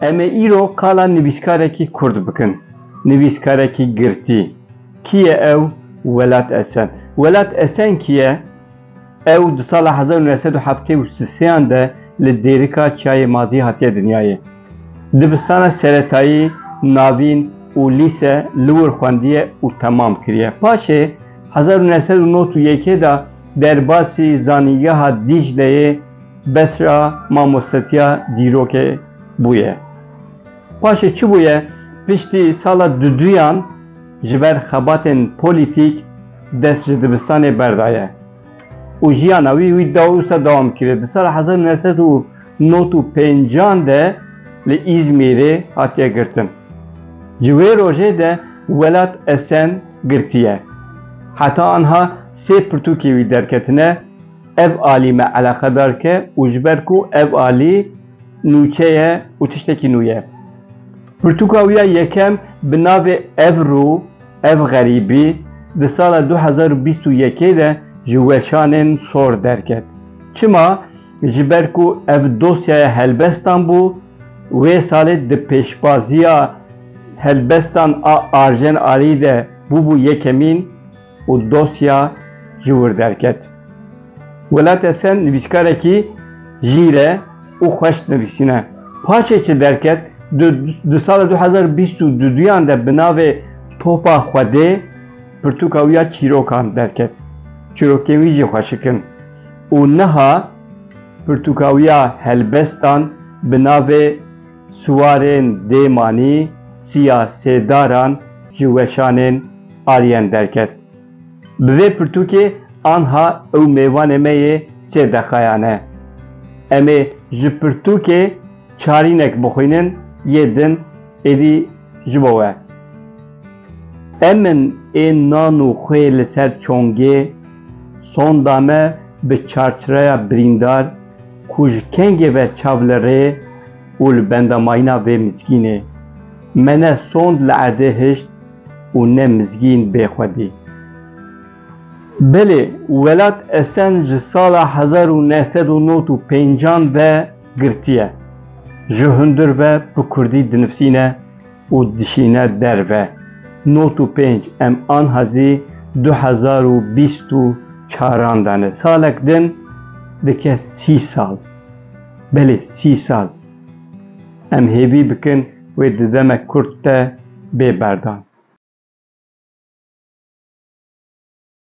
Em ê îro qala nivîskarekî kurd bikin. Nivîskarekî girtî. Kî ye ew? Welat Esen. Welat Esen kî ye? Ew di sala hezar û neh sed û heftê û sisêyan de li Dêrika Çiyayê Mazî hatiye dinyayê. Dibistana seretayî, navîn û lîse li wir xwendiye û temam kiriye. Paşê hezar û neh sed û nod û yekê de Derbasî Zanîngeha Dîcleyê Besra mamostetiya dîrokê bûye. Paşê çi bûye? Piştî sala du duyan ji ber xebatên polîtîk dest ji dibistanê berdaye û jiyana wî wî da wisa dewam kiriye. Di sala hezar û neh sed û Nod û pêncan de li Îzmîrê hatiye girtin. Ji wê rojê de welat Esen girtiye. Heta anha sê pirtûkê wî derketine, ev alî me eleqedar ke û ji ber ku ev alî nûçe ye û tiştekî nû ye. Pirtûka wî ya yekem bi navê Ev rû, ev xerîbî di sala du hezar û bîst û yekê de ji weşanên sor derket. Çima? Ji ber ku ev dosyaya helbestan bû, wê salê di pêşbaziya helbestan a Arjen Arî de bûbû yekemîn û dosya ji wir derket. Welat Esen nivîskarekî jîr e û xweş dinivîsîne. Paşê çi derket, di di sala du hezar û bîst û duyan de bi navê Topa Xwedê pirtûka wî ya çîrokan derket. Çîrokên wî jî xweşik in. û niha pirtûkawiya helbestan bi navê Siwarên dê manî siya sêdaran ji weşanên Aryen derket. Bi vê pirtûkê anha ew mêvanê me yê sê deqayan e. Em ê ji pirtûkê çarînek bixwînin yê din êdî ji bo we. Em in ê nan û xwê li ser çongê Sonda me bi çarçreya birîndar ku ji kengê ve çav li rê û li benda mayîna vê mizgînê. Me ne sond li erdê hişt û ne mizgîn bê xwe dî. Belê, welat Esen ji sala hezar û neh sed û nod û pêncan ve girtiye. Ji hundir ve bi kurdî dinivsîne. û dişîne derve. Not û pênc Em anha zî du hezar û bîst û çaran de ne. Salek din dike sî sal. Belê sî sal. Em hêvî bikin wê di demek kurt de bê berdan.